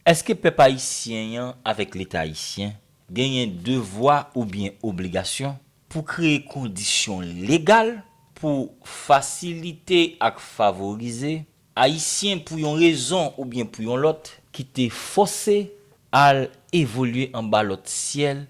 Èske pèp ayisyen an avèk Leta ayisyen genyen devwa oubyen obligasyon pou kreye kondisyon legal pou fasilite ak favorize Ayisyen pou yon rezon oubyen pou yon lòt ki te fòse al evolye anba lòt syèl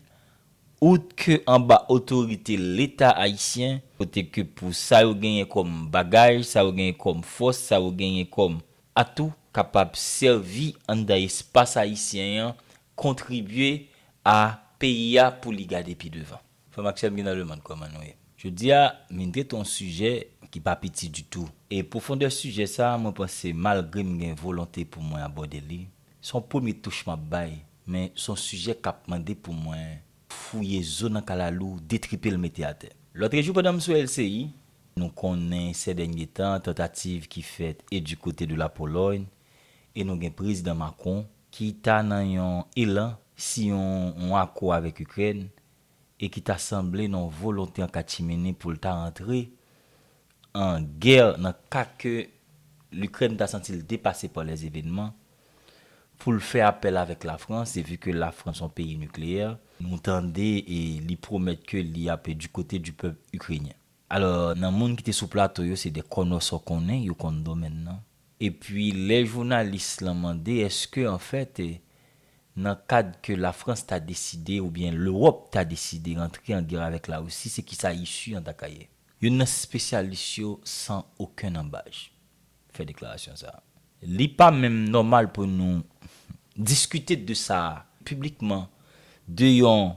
out ke anba otorite Leta ayisyen kote ke pou sa yo genyen kòm bagay, sa yo genyen kòm fòs, sa yo genyen kòm a tou kapab sèvi anndan espas ayisyen an kontribye a peyi a pou li gade pi devan. Frè m ak sè m ki nan lemonn, kòman nou ye? Jodi a, m vin trete yon sijè ki pa piti ditou. E pwofondè sijè sa a, mwen panse malgre m gen volonte pou mwen abòde li, se yon premye touch m ap bay, men se yon sijè k ap mande pou mwen fouye zo nan kalalou, detripe l mete atè. Lòtrejou pandan m sou LCI, Nou konnen sè dènye tan tantativ ki fèt e du kote de la Pologne e nou gen prezidan Macron ki ta nan yon elan si yon yon akò avèk Ukraine e ki ta sanble nan yon volonte an kachimini pou l ta antre an gè nan ka ke l'Ukraine ta santi l depase pa lè evenman pou l fè apèl avèk la France e vu ke la France yon peyi nucléaire. Nou tande e li pwomèt ke li ap du kote du pèp Ukrainien. Alò, nan moun ki te sou plato yo, se 2 kònòsò konnen, yo konn domèn nan. Epi, lè jounalis lan mande èske anfèt, nan kad ke Lafrans ta deside oubyen Lewòp ta deside rantre an gè avèk Larisi, se kisa isu an ta ka ye? Youn nan spesyalis yo, san okenn anbaj. fè deklarasyon sa a. Li pa menm nòmal pou nou diskite de sa a piblikman, de yon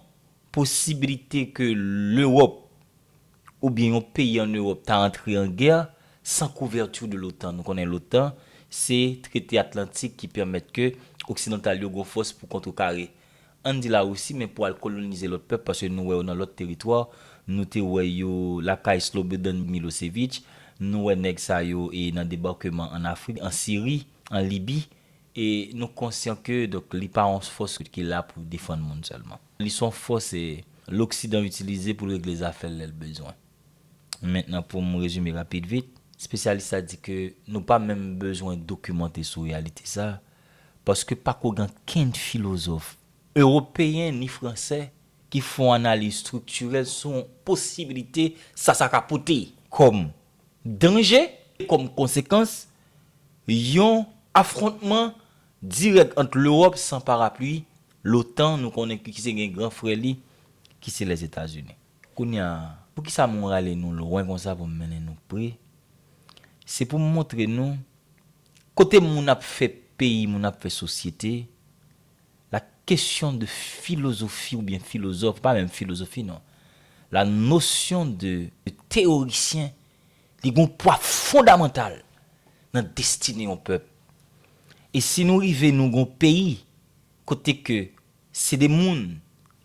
posibilite ke Lewòp oubyen yon peyi an Ewòp ta antre an gè san couverture de l'OTAN. Nou konnen l'OTAN se trete atlantik ki pèmèt ke oksidantal yo gen yon fòs pou kontrekare Ann di Larisi men pou al kolonize lòt pèp paske nou wè yo nan lòt teritwa, nou te wè yo lakay Slobodan Milosevic, nou wè nèg sa yo e nan debàkeman ann Afrik, an Siri, an Libi e nou konsyan ke donk li pa yon fòs ki la pou defann moun sèlman. Li son fòs loksidan itilize pou l regle zafè l lè l bezwen. Mentnan pou m rezime rapid vit, spesyalis la di ke nou pa menm bezwen dokimante sou reyalite sa, paske pako gen okenn filozòf, ewopeyen ni fransè, ki fè yon analiz estriktirèl sou yon posibilite sa sa ka pote kòm danje, kòm konsekans yon afwontman dirèk ant Lewòp san parapli, lotan, nou konnen ki se gen gran frè li, ki se Lèzetazini. Kounye a, pou ki sa mwen rale nou lwen konsa pou m mennen nou pre, se pou m montre nou, Kote moun ap fè peyi moun ap fè sosyete la kesyon de filozofi oubyen filozòf pa menm filozofi non la nosyon de teyorisyen li gon pwa fondamantal nan destine yon pèp e si nou rive nou gon peyi kote ke Se de moun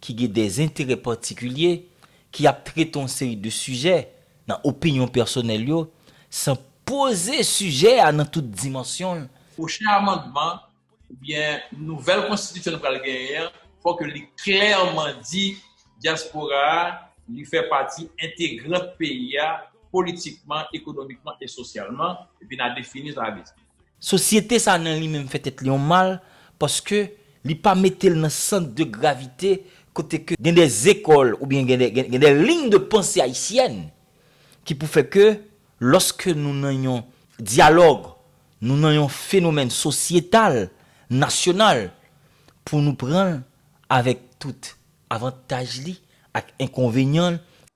ki gen de enterè patikilye ki ap trete yon seri de sijè nan opinyon pèsonèl yo san poze sijè a nan tout dimansyon l. Pwochen amandman oubyen nouvèl konstitisyon nou pral genyen an, fò ke li klèman di dyaspora a li fè pati entegrant peyi a politikman, ekonomikman e sosyalman, epi n a defini sa vle di. Sosyete sa nan li menm fè tèt li yon mal paske li pa mete l nan sant de gravite kote ke gen de zekòl oubyen gen de lign de panse ayisyèn ki pou fè ke lòske nou nan yon dyalòg, nou nan yon fenomèn sosyetal, nasyonal pou nou pran l avèk tout avantaj li ak enkonvenyan l,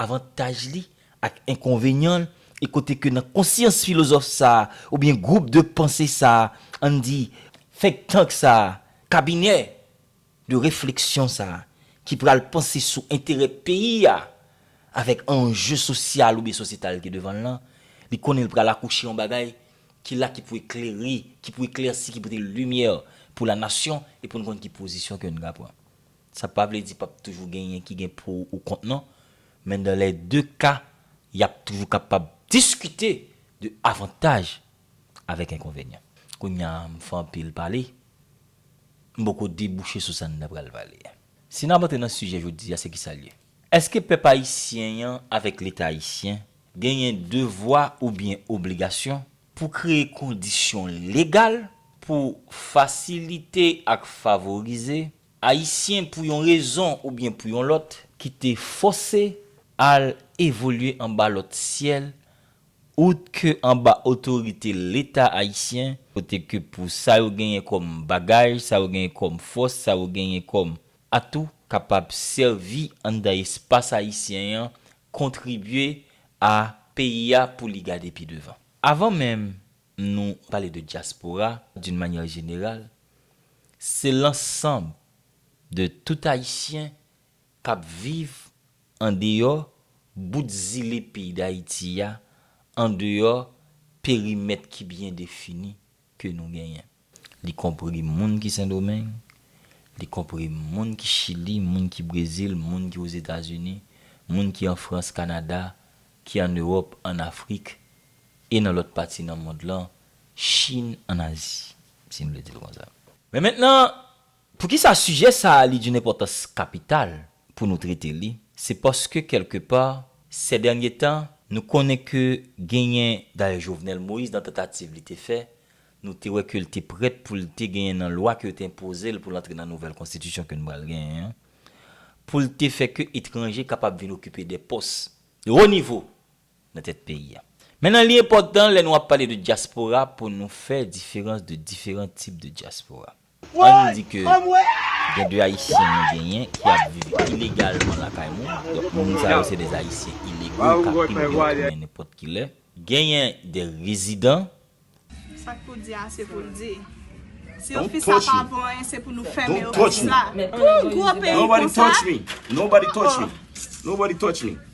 avantaj li ak enkonvenyan l e kote ke nan konsyans filozòf sa a oubyen gwoup de panse sa a, an n di think tank sa a, kabinè de refleksyon sa a ki pral panse sou enterè peyi a avèk anje sosyal oubyen sosyetal ki devan l lan, li konnen l pral akouche yon bagay ki la ki pou eklere, ki pou eklèsi, ki pote limyè pou lanasyon e pou n konn ki pozisyon ke n ka pran. Sa pa vle di pap toujou genyen ki gen pou ou kont non, men dan lè de ka yap toujou kapab diskite de avantaj avèk enkonvenyan. Kounya m fè anpil pale, m poko debouche sou sa n ta pral pale a. Si nap antre nan sijè jodi a se kisa l ye? Eske pèp ayisyen an avèk leta ayisyen genyen devwa oubyen obligasyon pou kreye kondisyon legal pou fasilite ak favorize Ayisyen pou yon rezon oubyen pou yon lòt. Ki te fòse al evolye anba lòt syèl out ke anba otorite Leta Ayisyen, kote ke pou sa yo genyen kòm bagay, sa yo genyen kòm fòs, sa yo genyen kòm atou kapab sèvi anndan espas Ayisyen an, kontribye a peyi a pou li gade pi devan. Avan menm nou pale de dyaspora d'une manière générale, se lansanb de tout Ayisyen k ap viv andeyò bout zile peyi Dayiti a, andeyò perimèt ki byen defini ke nou genyen. Li konpri moun ki Sendomeng, li konpri moun ki Chili, moun ki Brezil, moun ki Ozetazini, moun ki an Frans, Kanada, ki an Ewòp, an Afrik, e nan lòt pati nan mond lan, Chin, an Azi, si n vle di l konsa. Men mentnan, poukisa sijè sa a li doun enpòtans kapital pou nou trete li, se paske kèlke pa, sè dènye tan, nou konnen ke genyen, dayè Jovenel Moïse nan tantativ li te fè, Nou te wè ke l te prèt pou l te genyen nan lwa ke yo te enpoze l pou l antre nan nouvèl konstitisyon ke nou pral genyen an, pou l te fè ke etranje kapab vin okipe de pòs de wo nivo nan tèt peyi a. Mennan li enpòtan lè nou ap pale de dyaspora pou nou fè diferans de diferan tip de dyaspora. An n di ke gen de Ayisyen nou genyen ki ap viv ilegalman lakay moun, donk moun sa yo se de Ayisyen ilego k ap vin gen otomen nenpòt ki lè. Genyen de rezidan. Sa k pou di a se pou l di. Si yo fi sa pa vo anyen se pou nou fèmen yo pou sa. Pou yon gwo peyi konsa? Oh!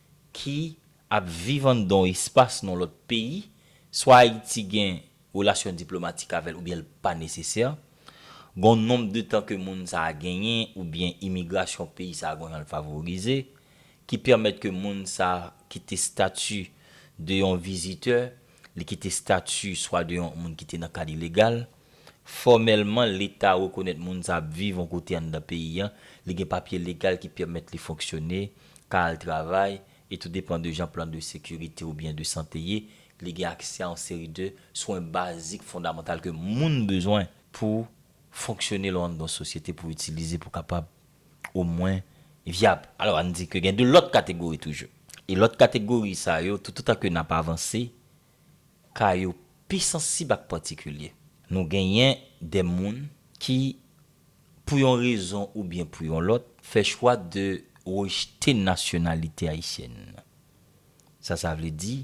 ki ap viv anndan yon espas nan lòt peyi, swa Ayiti gen relasyon diplomatik avè l oubyen l pa nesesè, gen yon nonb de tan ke moun sa a genyen oubyen imigrasyon peyi sa a gen yon jan l favorize, ki pèmèt ke moun sa a kite stati de yon vizitè, li kite stati swa de yon moun ki te nan kad ilegal. Fòmèlman, Leta rekonèt moun sa ap viv yon kote anndan peyi an, li gen papye legal ki pèmèt li fonksyone, ka al travay, e tou depan de jan plan de sekirite oubyen de sante ye, li gen aksè a yon seri de swen bazik fondamantal ke moun bezwen pou fonksyone lò anndan yon sosyete, pou itilize pou kapab omwen vyab. Alò, ann di ke gen de lòt kategori toujou. E lòt kategori sa yo, toutotan ke n ap avanse, ka yo pi sansib ak patikilye. Nou genyen de moun ki, pou yon rezon oubyen pou yon lòt, fè chwa de rejte nasyonalite ayisyèn. Sa sa vle di,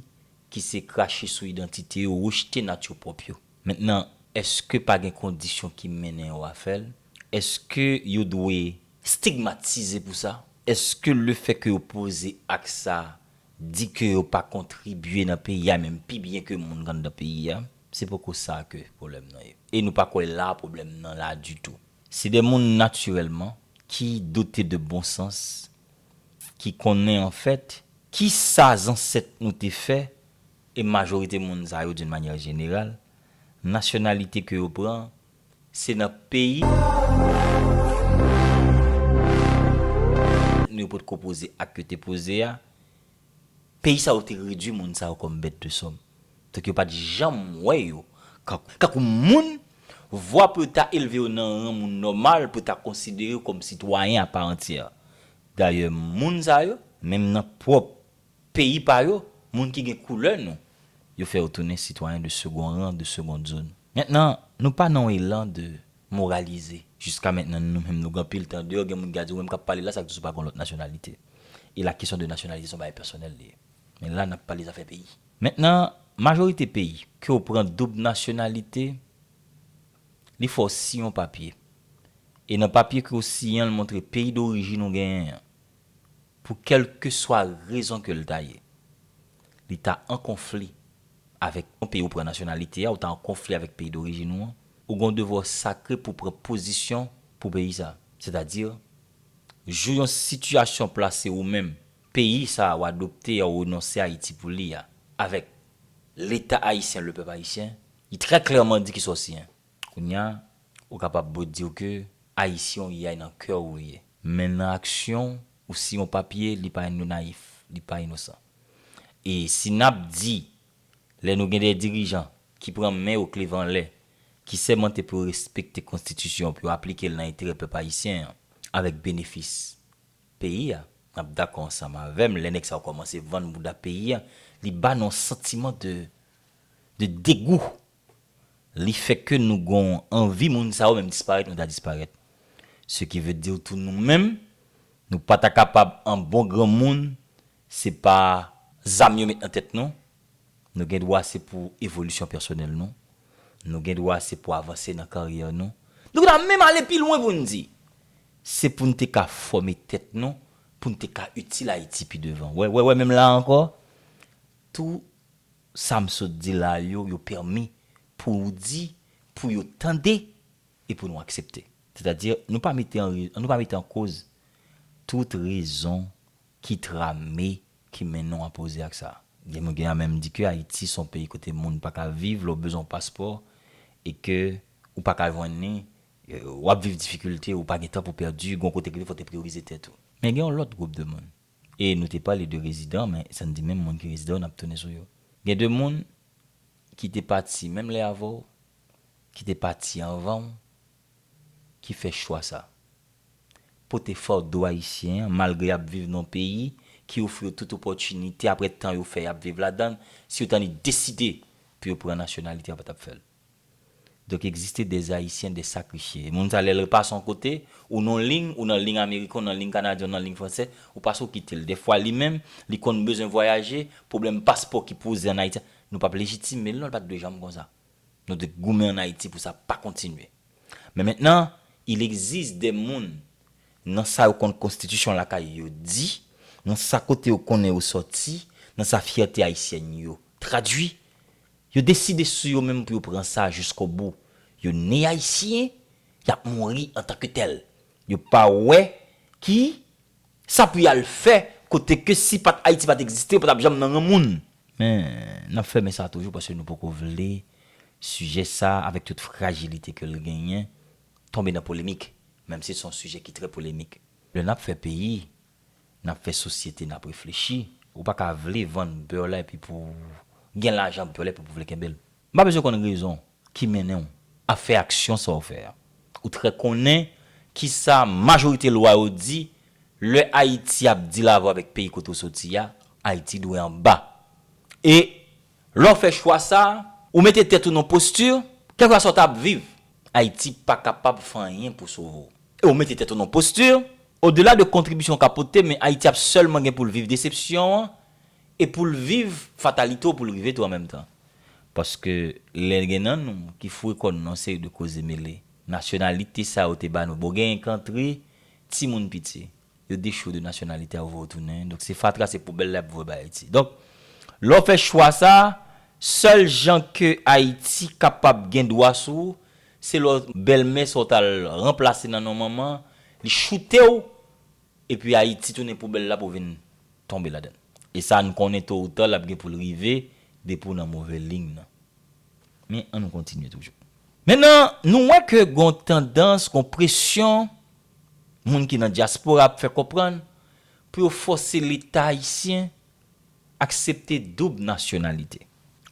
ki se krache sou idantite yo, rejte nat yo pwòp yo. Mentnan, èske pa gen kondisyon ki mennen yo a fè l? Èske yo dwe. Stigmatize pou sa? Èske lefè ke yo poze ak sa Di ke yo pa kontribye nan peyi a menm pi byen ke moun anndan peyi a, se poko sa ke pwoblèm nan ye. E nou pa kwè la pwoblèm nan la ditou. Se de moun natirèlman ki dote de bon sans, ki konnen anfèt ki sa zansèt nou te fè e majorite moun sa yo d'une manière générale, nasyonalite ke yo pran, se nan peyi nou yo potko poze ak yo te poze a peyi sa yo te redwi moun sa yo kòm bèt de sòm donk yo pat janm wè yo kankou moun vwa pou yo ta elve yo nan ran moun nòmal pou yo ta konsidere yo kòm sitwayen aparantyè dayè moun sa yo menm nan pwòp Peyi pa yo, moun ki gen koulè nou. Yo fè yo tounen sitwayen de second rang, de seconde zone. Mentnan, nou pa nan yon elan de moralize. Jiska mentnan, nou menm nou gen anpil tan deyò, gen moun ki ka di ou menm k ap pale la sa k di sou pa gen yon lòt nasyonalite. E la kesyon de nasyonalite se yon bagay pèsonèl li ye. Men la n ap pale zafè peyi. Mentnan, majorite peyi, ke w pran doub nasyonalite, li fè w siyen yon papye. E nan papye ke w siyen an li montre peyi dorijin ou genyen an. pou kèlkeswa rezon ke l ta ye, li ta an konfli avèk yon peyi ou pran nasyonalite a, ou ta an konfli avèk peyi dorijin ou an, ou gen yon devwa w sakre pou w pran pozisyon pou peyi sa a. Sètadi, jou yon sitiyasyon plase ou menm, peyi sa a ou adopte a, ou renonse Ayiti pou li a, avèk. Leta ayisyen, le pèp ayisyen, li trè klèman di kisa w siyen. Kounya ou kapab bro diw ke ayisyen ou ye ay nan kèw ou ye. Men nan aksyon ou si yon papye li pa yon nayif li pa inosan e si nap di lè nou gen de dirijan ki pran men yo kleve anlè ki sèmante pou yo respekte konstitisyon pou yo aplikel nan enterè pèp ayisyen an avèk benefis peyi a nap dakò ansanm avèm lè nèg sa yo kòmanse vann bouda peyi a li ba nou yon santiman de de degou li fè ke nou gon anvi moun sa yo menm disparèt nou ta disparèt. Se ki ve dir tou nou menm, nou pa ta kapab an bon granmoun, se pa zam yo met nan tèt nou, nou gen dwa se pou evolisyon pèsonèl nou, nou gen dwa se pou avanse nan karyè nou, nou ta menm ale pi lwen pou n di, se pou n te ka fòme tèt nou, pou n te ka itil Ayiti pi devan. Wè, wè, wè menm la ankò, tou. Sam sot di la yo, yo pèmi pou ou di, pou yo tande e pou nou aksepte. Sètadi, nou pa mete an ri, nou pa mete an koz tout rezon ki trame, ki men nou apoze ak sa. Gen moun ki ta menm di ke Ayiti son peyi kote moun pa ka viv, lè ou bezwen yon paspò e ke ou pa ka jwenn li, wap viv difikilte, ou pa gen tan pou pèdi, gon kote ki fè ou te priyorize tèt ou. Men gen yon lòt gwoup de moun, E nou te pale de rezidan men sa n di menm moun ki rezidan yo n ap tounen sou yo. Gen de moun ki te pati menm lè avè w, ki te pati anvan w, ki fè chwa sa. Pote fado ayisyen an malgre y ap viv nan yon peyi ki ofri yo tout opòtinite apre tan yo fè y ap viv ladan l, si yo ta ni deside pou yo pran nasyonalite yo pa t ap fè l. Donk egziste des haïtiens des sacrifiés. Moun sa lèl repase yon kote, ou non ling, ou nan ling ameriken, ou nan ling kanadyen, ou nan ling fransè, ou pase ou kitel. Dèfwa li menm, li konn bezwen vwayaje, pwoblèm paspò ki poze an Ayiti, nou pap lejitimel non, li pat dwe janm konsa. Nou dwe goumen an Ayiti pou sa pa kontinye. Men mentnan, il existe des moun nan sa yo konn konstitisyon lakay yo di, nan sa kote yo konnen yo sòti, nan sa fyète ayisyèn yo tradwi, Yo deside sou yo menm pou yo pran sa jiskobou. Yo ni Ayisyen, y ap mouri antanketèl. Yo pa wè ki sa pou y al fè kote ke si pat Ayiti pat egziste yo pa t ap janm nan ren moun. Men, n ap fèmen sa toujou paske nou poko vle sijè sa avèk tout frajilite ke l genyen tonbe nan polemik, menmsi se yon sijè ki trè polemik. Lè n ap fè peyi, Nap fè sosyete nap reflechi. Ou pa ka vle vann beurre la epi pou gen lajan beurre la epi pou vle kenbel. M pa bezwen konn rezon ki mennen w ap fè aksyon sa w fè a. Ou trè konnen kisa majorite lwa yo di lè Ayiti ap di lave avèk peyi kote w soti a, Ayiti dwe anba. E lè w fè chwa sa, ou mete tèt ou nan yon posti, kèlkesa w ta ap viv, Ayiti pa kapab fè anyen pou sove w. E ou mete tèt ou nan yon posti, Odela de kontribisyon w ka pote, men Ayiti ap sèlman gen pou l viv desepsyon an e pou l viv fatalite w pou l rive tou an menm tan. Paske lè gen nan nou ki foure kò nou nan yon seri de koze mele, nasyonalite sa yo te ba nou bon genyen ki antre, timoun piti, yo dechoure de nasyonalite a yo voye yo tounen, donk se fatra se poubèl la y ap voye bay Ayiti. Donk lè w fè chwa sa, sèl jan ke Ayiti kapab gen dwa sou, Se lè w bèlmè sa w t al ranplase nan non manman, li choute w, epi Ayiti tounen poubèl la pou w vin tonbe ladan l. E sa n konnen towoutan l ap gen pou l rive depi w nan move liy nan. Men, annou kontinye toujou. Mennan, nou wè ke gen yon tandans, gen yon presyon moun ki nan dyaspora ap fè konprann pou yo fòse Leta ayisyen Aksepte doub nasyonalite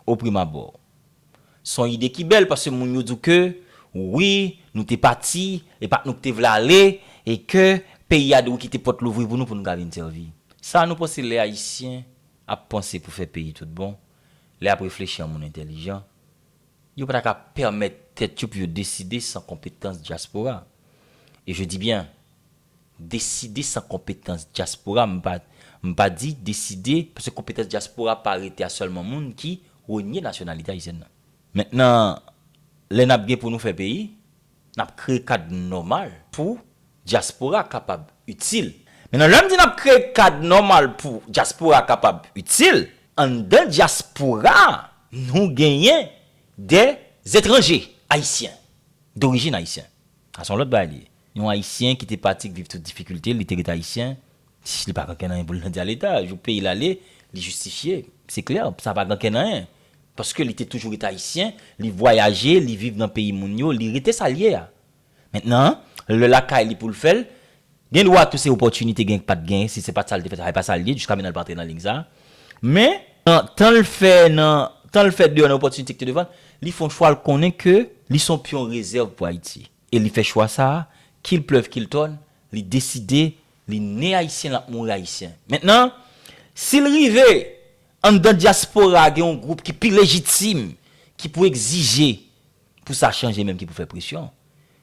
oprimabò s on ide ki bèl paske moun yo di w ke wi nou te pati e pa t nou ki te vle ale e ke peyi a dwe kite pòt louvri pou nou pou nou ka vin sèvi. Sa a nou panse lè Ayisyen ap panse pou fè peyi tout bon, lè y ap reflechi an moun entèlijan, yo pa ta ka pèmèt tèt yo pou yo deside san konpetans dyaspora. E je dis bien. Deside san konpetans dyaspora m pa m pa di deside paske konpetans dyaspora pa rete a sèlman moun ki renye nasyonalite ayisyèn nan. Mentnan lè n ap gen pou nou fè peyi, n ap kreye kad nòmal pou dyaspora kapab itil. Mentnan lè m di n ap kreye kad nòmal pou dyaspora kapab itil, anndan dyaspora a nou genyen de etranje ayisyen, dorijin ayisyen. A son lòt bagay li ye. Yon ayisyen ki te pati k viv tout difikilte l li te ret ayisyen li pa gen kè nan yen pou l nan di a leta jou peyi l ale li jistifye se klè sa pa gen kè nan yen paske li te toujou ret ayisyen li vwayaje li viv nan peyi moun yo li rete sa l ye a mentnan lè lakay li pou l fè l Gen dwa tou se opòtinite Genk pat genyen si se pat sa li te fè travay pa sa li ye jiska menanl pa antre nan lig sa men nan tanl fè nan tanl fè deyò nan opòtinite ki te devanl li fon chwal konnen ke li son pyon rezèv pou Ayiti e li fè chwa sa kil plèv kil tòn li deside li ne ayisyen lap mouri ayisyen mentnan sil rive anndan dyaspora gen yon gwoup ki pi lejitim ki pou egzije pou sa chanje menm ki pou fè presyon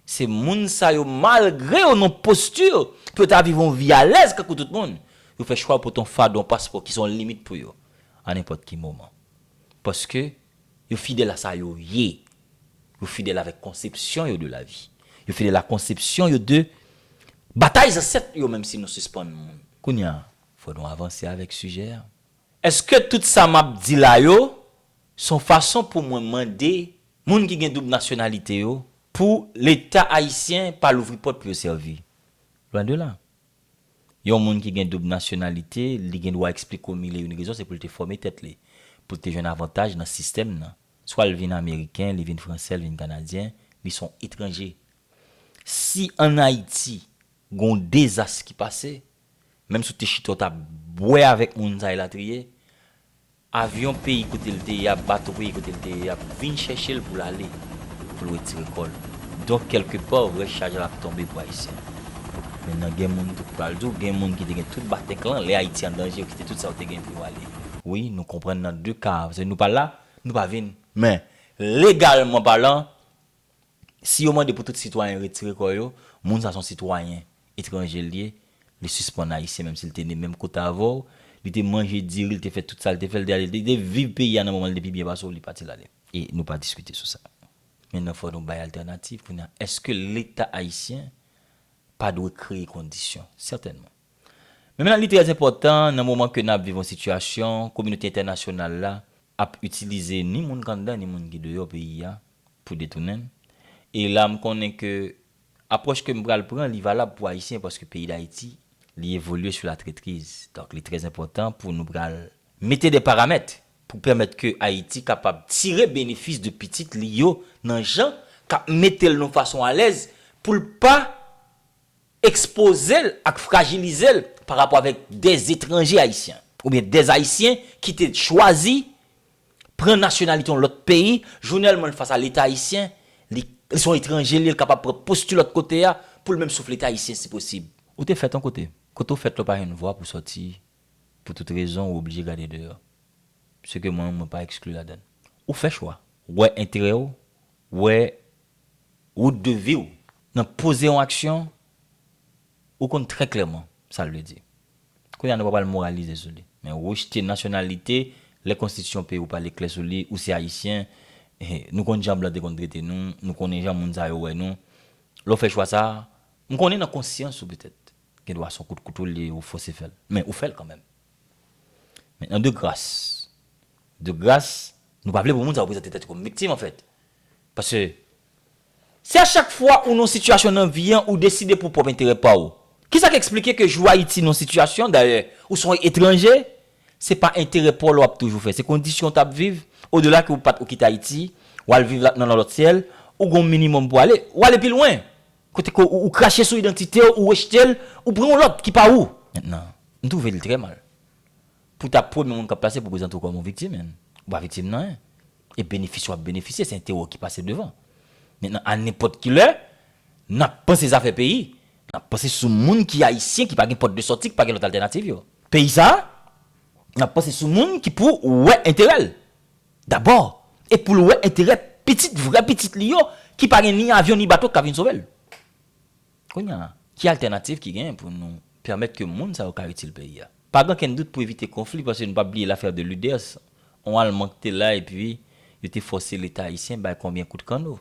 Se moun sa yo malgre yo nan posture pou yo ta viv yon vi alèz kankou tout moun, yo fè chwa pou ton fado, yon paspò ki se yon limit pou yo a nenpòt ki moman. Paske yo fidèl a sa yo ye, yo fidèl avèk konsepsyon yo de lavi, yo fidèl a konsepsyon yo de batay zansèt yo menm si nou sispann moun. Kounye a, fò nou avanse avèk sijè a. Eske tout sa map di la yo son fason pou mwen mande moun ki gen doub nasyonalite yo pou leta ayisyen pa louvri pòt pou yo sèvi? Lwen de la. Yon moun ki gen doub nasyonalite li gen dwa eksplike w mil e youn rezon se pou l te fòme tèt li, pou l te jwenn avantaj nan sistèm nan. Swa l vin ameriken, li vin fransè, l vin kanadyen, li son etranje. Si an Ayiti gon dezas ki pase, Menm si w te chita w tap bwè avèk moun sa elatriye, avyon peyi kote l te ye a, bato peyi kote l te ye a ap vin chèche l pou l ale, pou l retire kò l. Donk kèlke pa rès chaj la ap tonbe pou Ayisyen. Men nan gen moun tou ki pral di w gen moun ki te gen tout batèk lan, lè Ayiti an danje yo kite tout sa yo te gen pou yo ale. Wi, nou konprann nan 2 ka a, paske nou pa la, nou pa vin. Men, legalman palan, Si yo mande pou tout sitwayen retire kò yo, moun sa son sitwayen etranje l ye, li sispann ayisyen menm si l te ne menm kote avè w, li te manje diri, li te fè tout sa l te fè, li te ale, li te viv peyi a nan moman l te pi byen pase w, li pati l ale. E nou pa diskite sou sa. Mennen fò nou bay altènativ kounye a. Eske leta ayisyen pa dwe kreye kondisyon? Sètènman. Men menan li trè enpòtan nan moman ke n ap viv yon sitiyasyon kominote entènasyonal la ap itilize ni moun k anndan ni moun ki deyò peyi a pou detounen m e la m konnen ke apwòch ke m pral pran li valab pou Ayisyen paske peyi Dayiti li evolye sou latrètriz donk li trè enpòtan pou nou pral mete de paramèt pou pèmèt ke Ayiti kapab tire benefis de pitit li yo nan jan k ap mete l nan fason alèz pou l pa. ekspoze l ak frajilize l pa rapò avèk dè etranje ayisyen oubyen dè ayisyen ki te chwazi pran nasyonalite yon lòt peyi, jounèlman l fas a leta ayisyen, li se yon etranje li ye, l kapab pran posti lòt kote a pou l menm souf leta ayisyen si posib. Ou te fèt yon kote. Kote ou fèt la ou pa jwenn vwa pou sòti pou tout rezon ou oblije gade deyò. Se ke mwen menm mwen pa ekskli ladann. Ou fè chwa. Wè enterè ou, wè Route de vie w. Nan poze yon aksyon, ou konn trè klèman sa l vle di. Kounye a nou pa pral moralize sou li. Men rejte nasyonalite, lè konstitisyon peyi w pale klè sou li, ou se Ayisyen, nou konn jan blan te konn trete nou, nou konnen jan moun sa yo wè nou, lè w fè chwa sa a, m konnen nan konsyans ou petèt, gen dwa se yon kout kouto l ye ou fose fè l, men ou fè l kanmenm. Mentnan de gras, de gras, Nou pa vle pou moun sa yo prezante tèt yo kòm viktim anfèt. Paske si a chak fwa ou nan yon sitiyasyon nan vi an ou deside pou pwòp enterè pa ou, kisa k eksplike ke jou Ayiti nan sitiyasyon, dayè, ou se yon etranje, se pa enterè pa w la w ap toujou fè, se kondisyon w t ap viv, odela ke ou pa t ou kite Ayiti, w al viv nan lòt syèl, ou gen yon minimòm pou w ale, ou ale pi lwen, kote ke ou krache sou idantite w, ou rejte l, ou pran yon lòt ki pa ou. Mentnan, m twouve l trè mal. Pou ta premye moun kap plase pou prezante w kòm yon viktim en ou pa viktim nan en e benefis wap benefisye se enterè w ki pase devan. Mentnan a nenpòt ki lè nap panse zafè peyi nap panse sou moun ki ayisyen ki pa gen pòt de sòti ki pa gen lòt altènativ yo. Peyi sa a nap panse sou moun ki pou wè enterè l dabò e pou l wè enterè pitit vrè pitit li yo ki pa gen ni avyon ni bato ki ka vin sove l. Kounye a, ki altènativ ki genyen pou nou pèmèt ke moun sa yo ka itil peyi a? Pa gen okenn dout pou evite konfli, paske nou pa bliye lafè de Luders, on Alman ki te la epi yo te fòse Leta Ayisyen bay konbyen kout kanno.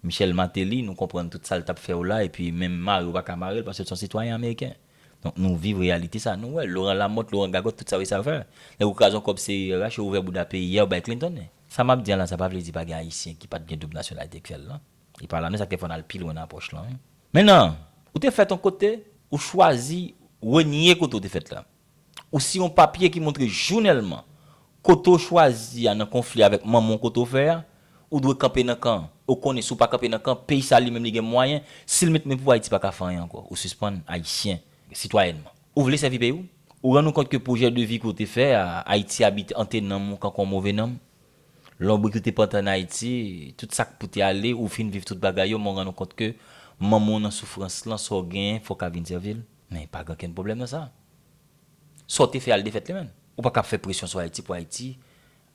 Michel Martelly, nou konprann tout sa l t ap fè yo la epi menm mare yo pa ka mare l paske l se yon sitwayen ameriken. Donk nou viv reyalite sa a, nou wè Laurent Lamothe, Laurent Gagot tout sa yo esal fè. Nèg yo kraze yon kòb CIRH, yo ouvè bouda peyi a, yo bay Clinton li. Sa m ap di an la, sa pa vle di pa gen Ayisyen ki pa t gen doub nasyonalite k fè l nan. Li pa la men sa k te fè w al pi lwen nan apwòch lan wi. Men nan, ou te fèt yon kote, ou chwazi renye kote ou te fèt la. Ou siyen yon papye ki montre jounèlman kote w chwazi a nan konfli avèk manman w kote w fè a, ou dwe kanpe nan kan an. E w konnen si w pa kanpe nan kan an, peyi sa li menm li gen mwayen, si l met men pou Ayiti pa ka fè anyen ankò. Ou sispann Ayisyen sitwayènman. Ou vle sèvi peyi w. Ou rann ou kont ke pwojè de vi ke w te fè a, Ayiti abite ante nanm ou kankou yon move nanm. Lonbrik ou te pante an Ayiti, tout sa k pou te ale, ou fin viv tout bagay yo, men w rann ou kont ke manman w nan soufrans lan, sa w genyen fò w ka vin sèvi l. Men pa gen okenn pwoblèm nan sa. Sa w te fè al defèt li menn. Ou pa ka ap fè presyon sou Ayiti pou Ayiti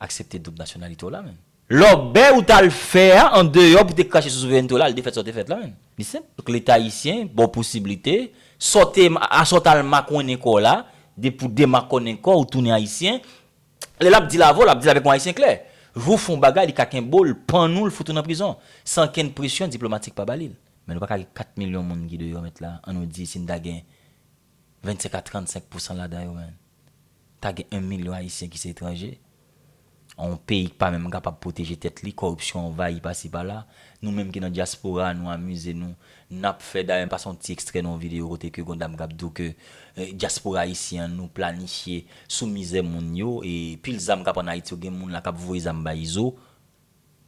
aksepte doub nasyonalite w la menn. Lòbèy ou t al fè a an deyò pou te krache sou souverènte w la al defèt sa w te fèt la menn. Li senp. Donk Leta ayisyen ba w posiblite, sa w te, a sa w t al makònen kò w la, depi w demakònen kò w, ou tounen Ayisyen, Lè lap dil avèw lap dil avèk yon ayisyen klè. Jou fon bagay li ka kenbewl pannul fout ou nan prizon san kenn presyon diplomatik pa balil. Men nou pa ka gen 4 milyon moun ki deyò mèt la an nou di si n ta gen 25 a 35 pousan ladan yo men ta gen 1 milyon ayisyen ki se etranje an yon peyi k pa menm kapab pwoteje tèt li kòripsyon anvayi pasi pala nou menm ki nan dyaspora nou amize nou Nap fè dayè m pase yon ti ekstrè nan yon video kote ke gon dam kap di w ke dyaspora ayisyen an nou planifye sou mizè moun yo e pil zam kap an ayiti yo gen moun la kap voye zam bay izo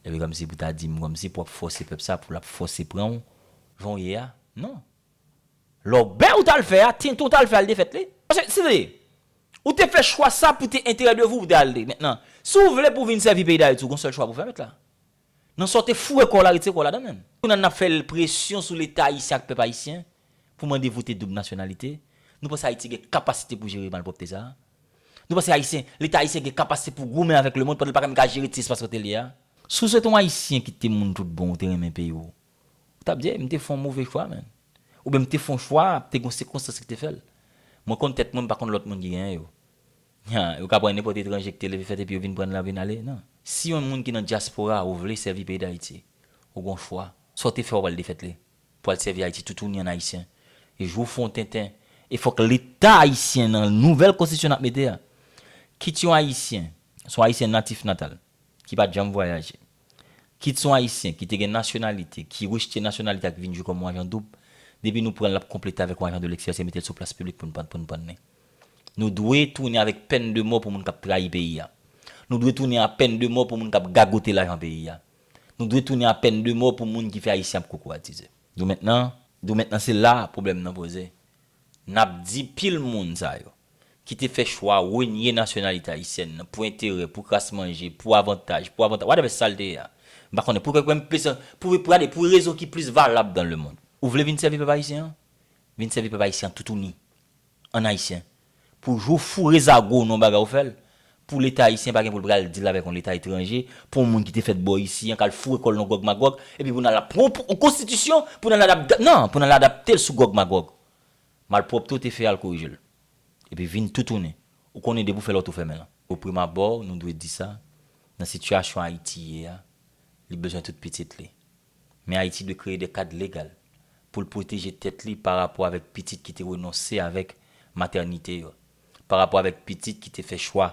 epi kòmsi pou ta di m kòmsi pou wap fòse pèp sa pou lap fòse pran w jan w ye a non lòbèy ou tal fè a tenten w tal fè al te fèt li paske se te ou te fè chwa sa pou te enterè de vou ou te al li mentnan si w vle pou w vin sèvi peyi dayiti w gon sèl chwa pou w fè mèt la Nan sa w te foure kò w la, retire kò w ladan menm. Kounye a n ap fè presyon sou Leta ayisyen ak pèp ayisyen pou mande vote doub nasyonalite. Nou panse Ayiti gen kapasite pou jere malpwòpte sa a? Nou panse Ayisyen, Leta ayisyen gen kapasite pou goumen avèk lemond pandan l pa menm ka jere ti espas kote l ye a? Si w se te yon Ayisyen ki te moun tout bon, ou te renmen peyi w, ou t ap di, Ey, m te fè yon move chwa menn. Oubyen m te fè yon chwa, te gen yon sikonstans ki te fè l. Mwen konn tèt mwen, m pa konn lòt moun ki genyen yo. Ha, yo ka pran nenpòt etranje ki te leve fèt epi yo vin pran la vin ale? Non. Si yon moun ki nan dyaspora ou vle sèvi peyi Dayiti, ou gon chwa. Sa w te fè w ap al defèt li pou al sèvi Ayiti toutouni an Ayisyen. E jou w fè yon tenten, e fòk Leta Ayisyen nan nouvèl konstitisyon n ap mete a, kit yon Ayisyen, se yon Ayisyen natif natal, ki pa t janm vwayaje, Kit son Ayisyen ki te gen nasyonalite, ki rejte nasyonalite a ki vin jwi kòm yon ajan doub, depi nou pran l ap konplete avèk yon ajan de lèkstrè se mete l sou plas piblik pou n pou n pannen. Nou dwe tounen avèk pèn de mò pou moun k ap trayi peyi a. Nou dwe tounen a pèn de mò pou moun k ap gagote lajan peyi a. Nou dwe tounen a pèn de mò pou moun ki fè Ayisyen ap kokoratizè. Doumèt nan, doumèt nan se la pwoblèm nan poze. N ap di pil moun sa yo, ki te fè chwa renye nasyonalite ayisyèn nan pou enterè, pou kras manje, pou avantaj, pou avantaj, whatever sa l te ye a, m pa konnen, pou kèk menm pèsòn, pou, gade, pou rezon ki plis valab dan lemond. Ou vle vin sèvi pèp ayisyen an? Vin sèvi pèp ayisyen an toutouni, an ayisyen. Pou jou foure zago w nan yon bagay ou fè l, pou leta ayisyen pa gen pou l pral deal avèk yon leta etranje, pou yon moun ki te fèt bò isi an k al foure kò l nan gògmagòg, epi pou n al ap pran yon konstitisyon pou n al adap, nan, pou n al adapte l sou gògmagòg. Malpwòpte w te fè a al korije l. Epi vin toutouni. Ou konnen depi w fè lòt ou fèmen l. Oprimabò nou dwe di sa, nan sitiyasyon Ayiti ye a, li bezwen tout pitit li. Men Ayiti dwe kreye de kad legal pou l pwoteje tèt li pa rapò avèk pitit ki te renonse avèk matènite yo, pa rapò avèk pitit ki te fè chwa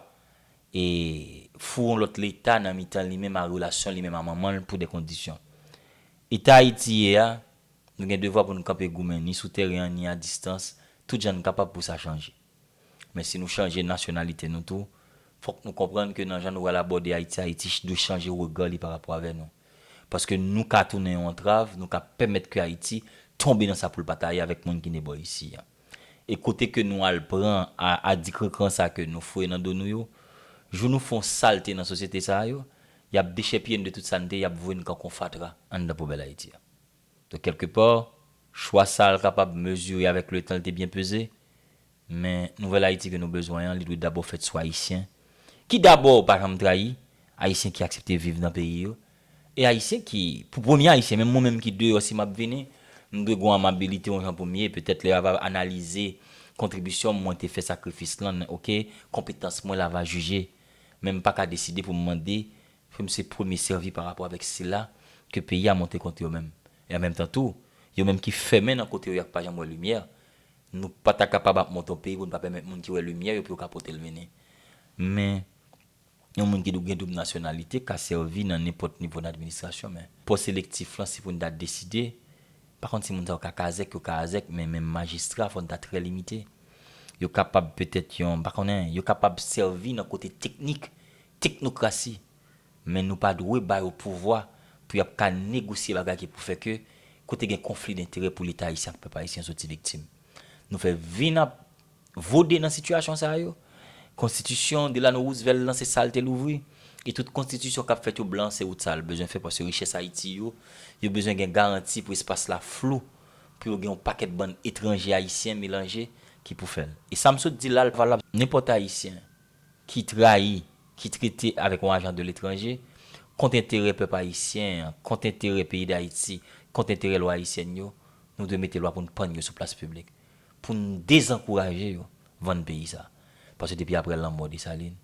e foure yon lòt leta nan mitan li menm a relasyon li menm a manman l pou de kondisyon. Eta Ayiti ye a, nou gen devwa pou n kanpe goumen ni sou tèren an ni a distans tout jan n kapab pou sa chanje. Men si nou chanje nasyonalite nou tou, fòk nou konprann ke nan jan nou pral abòde Ayiti, Ayiti dwe chanje rega li pa rapò avè nou. Paske nou ka tounen yon antrav, nou ka pèmèt ke Ayiti tonbe nan sa pou l pa ta ye avèk moun ki ne bò isi a. E kote ke nou al pran a adikrankran sa ke nou foye nan do nou yo, jou nou fon salte nan sosyete sa a yo, y ap dechèpiye n de tout sa n te ye, y ap voye n kan kon fatra anndan poubèl Ayiti a. Donk kèlke pa, chwa sa l kapab mezire avèk letan, l te byen peze, Men, nouvèl Ayiti ke nou bezwen an, li dwe dabò fèt sou Ayisyen ki dabò pa janm trayi, Ayisyen ki aksepte viv nan peyi yo, e Ayisyen ki, pou premye Ayisyen, menm mwen menm ki deyò si m ap vini, m dwe gen yon amabilite yon jan pou m ye, petèt lè a va analize kontribisyon m, mwen te fè sakrifis lan, men ok, konpetans mwen la va jije. Men m pa ka deside pou m mande ke m se premye sèvi pa rapò avèk sila ke peyi a monte kont yo menm. E an menm tan tou, yo menm ki fèmen nan kote yo ak pa janm wè limyè, Nou pa ta kapab ap monte yon peyi pou nou pa pèmèt moun ki wè limyè yo pou yo ka pote l vini. Men, yon moun ki gen doub nasyonalite ka sèvi nan nenpòt nivo nan administrasyon men, pòs elektif lan si pou n ta deside, pa konn si moun sa yo ka kazèk, yo ka azèk men menm majistra fò n ta trè limite. Yo kapab petèt yon, m pa konnen, yo kapab sèvi nan kote teknik, teknokrasi. Men nou pa dwe ba yo pouvwa pou y ap ka negosye bagay ki pou fè ke kote gen konfli denterè pou Leta Ayisyen ak pèp Ayisyen soti viktim. Nou fè vi n ap vode nan sitiyasyon sa yo. Konstitisyon Delano Roosevelt lan se sa l te louvri. E tout konstitisyon k ap fèt yo blan se wout sa l bezwen fè paske richès Ayiti yo, yo bezwen gen garanti pou espas la flou pou yo gen yon pakèt bann etranje-Ayisyen melanje ki pou fè l. E sa m sot di la l valab nenpòt Ayisyen. ki trayi, ki trete avèk yon ajan de letranje, kont enterè pèp ayisyen an, kont enterè peyi Dayiti, kont enterè lwa ayisyèn yo, nou dwe mete lwa pou n pann yo sou plas piblik, pou n dezankouraje yo vann peyi sa a. Paske depi aprè lanmò Desalin,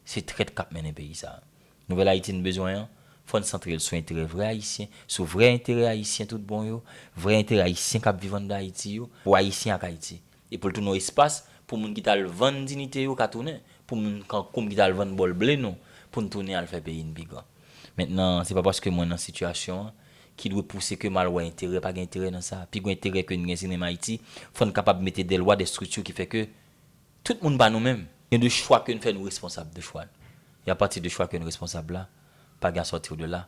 se trèt k ap mennen peyi sa a. Nouvèl Ayiti n bezwen an, fò n santre l sou enterè vrè ayisyen, sou vrè enterè ayisyen tout bon yo, vrè enterè ayisyen k ap viv ann dan Ayiti yo, pou Ayisyen ak Ayiti. E pou l tounen yon espas pou moun ki t al vann dinite yo ka tounen, pou moun kankou m ki t al vann bòl ble nou, pou n tounen al fè peyi n pi gran. Mentnan, se pa paske mwen nan sitiyasyon an, ki dwe pouse ke m al wè enterè, pa gen enterè nan sa. Pi gwo enterè ke n gen se menm Ayiti, fò n kapab mete dè lwa, dè strikti ki fè ke tout moun pa nou menm. Gen de chwa ke n fè nou responsab de chwa n. E apati de chwa ke n responsab la, pa gen asòti w de la.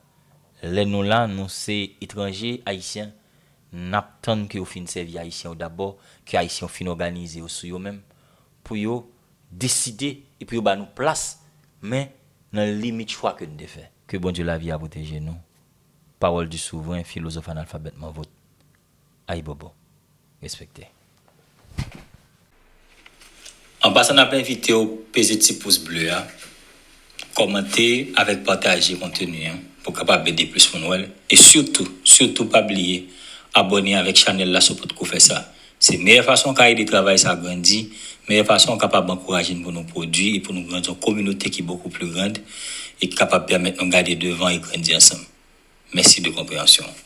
Lè nou la nou se etranje ayisyen nap tann ke yo fin sèvi ayisyen yo dabò ke ayisyen yo fin òganize yo sou yo menm pou yo deside e pou yo ba nou plas men nan limit chwa ke n te fè. Ke Bondye lavi a pwoteje nou. Parole du souverain philosophe analphabètement vôtre Ayibobo. Respekte. An pasan nap envitew peze ti pous ble a, kòmante avèk pataje konteni an pou kapab ede plis moun wèl e sitou sitou pa bliye abòne avèk chanèl la si w potko fè sa se meyè fason w ka ede travay sa grandi meyè fason w kapab ankouraje n pou nou pwodwi e pou nou grandi yon kominote ki bokou pli grand e ki kapab pèmèt nou gade devan e grandi ansanm. Mèsi de konpreyansyon w.